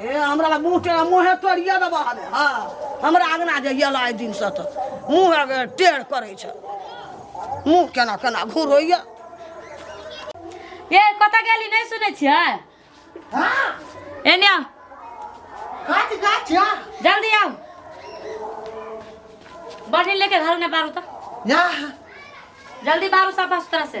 हे हमरा लग मुँह टेढ़ मुँहे तोड़िए देबऽ हमे हँ हमरा अगना जे अयला एहि दिनसँ तऽ मुँह टेढ़ करै छै मुँह केना केना घुरैए ये कतऽ गेली नहि सुनै छियै हाँ एने आउ गाछ गाछ या जल्दी आउ बढ़ी लेके घर में बारू तो या जल्दी बारू साफा सुथरा से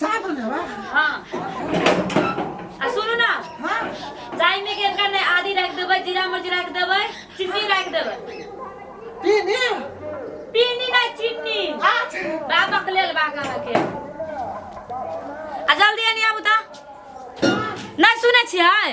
चाय बने बा हाँ आ सुनू ना हां चाय में के कर नहीं आधी रख देबै जीरा मिर्च रख देबै चीनी रख देबै पीनी पीनी ना चीनी आज बाबक लेल बागा के आ जल्दी आनी आबू ता नहीं सुनै छियै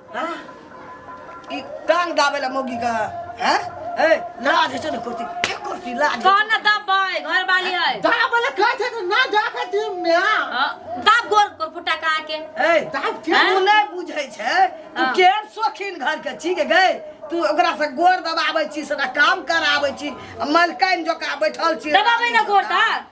हाँ? ई गान गावे ला मोगी का हैं ए लाज छै न कुर्ती के कुर्ती लाज छै। कौन ना दबाए घर वाली है दा बोले का छै ना दा के टीम में आ हाँ, दाब गोर गोर फुटा कहा के ए दाब के तू नहीं बुझै छै तू हाँ। केहन शौकीन घर के छी के गए तू ओकरा से गोर दबाबै छी से काम कराबै छी आ मलकाइन जका बैठल छी दबाबै ना गोर ता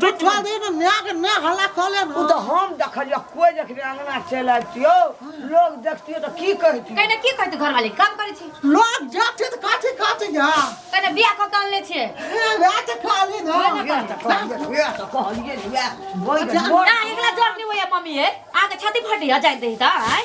बिठा दे ने माय के ने हल्ला कऽ ले ओ तऽ हम देखलियै कोइ देखने अंगना चलि आबितियौ लोग देखतियौ तऽ की कहितियौ कहने की कहते घर वाले काम करे छी लोग जाते तऽ काठी काठी जा कहने बियाह कऽ के अनले छी ए वएह तऽ खाली ना वएह तऽ कहलियै वएह तऽ कहलियै वएह बैठ ना एकला जोर नहीं होया मम्मी है आगे छाती फटी आ जाए दही ता आय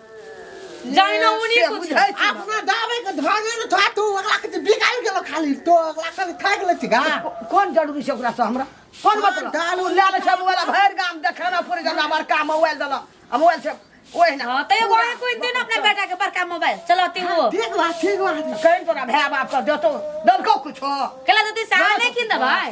जाइन उनी से कुछ बुझाइ छै। अपना दाबे के धरे न था तू अगला के बिकाल गेल खाली तो अगला के खा गेल छी गा कोन जरूरी छै ओकरा से हमरा कोन मतलब डालू। ले ले छै मोबाइल भरि गाम देखे ना पूरे जगह बड़का मोबाइल देला आ मोबाइल से ओहि ना हाँ तो एगो है कोई दिन अपने बेटा के बड़का मोबाइल चलाती हो ठीक बा ठीक बा कहीं तोरा भाय बाप के देतो देलको कुछो केला देती साल नहीं किन दबाई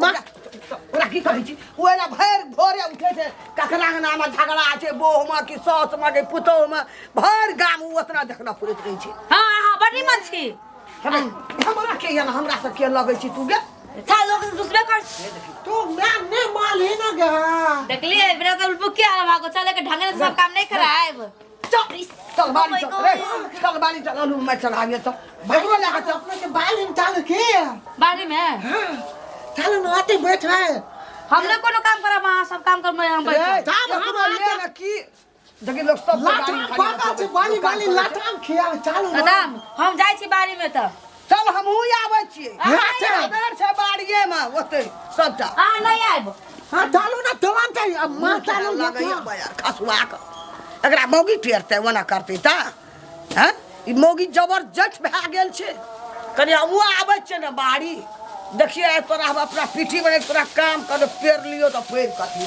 माँ ओरा की कहै छी ओला भरि भोरे उठे छै ककरा अंगना में झगड़ा छै बोह में कि सास में कि पुतोह में भरि गाम उ ओतना झगड़ा पुरैत रहै छै हाँ हाँ बड़ी मच्छी हमरा- हमरा के यन हमरा से के लगै छी तू गे था लोग दूसरे कर तू मैं ने माल ही ना गया देखलिए बिना तो बुकिया भागो चले के ढंग से सब काम नहीं कराए हमने कोनो काम करा वहाँ सब काम कर मैं हम बैठ देखिन लोग सब बाली बाली लाटाम खिया चालू कदम हम जाइ छी बारी में तऽ चल हमहूँ आबै छियै घर छै बाड़िएमे ओतै सभटा अहाँ नहि आयब हाँ डालू ना दोवान के अब मां डालू ना लगैए बजार खसुआ कऽ एकरा मौगी टेरतै ओना करतै तऽ हँ ई मौगी जबरदस्त भए गेल छै कनि हमहूँ आबै छियै ने बाड़ी देखियै आइ तोरा हम अपना पीठी बने तोरा काम कर पेड़ लियो तऽ पेड़ कथी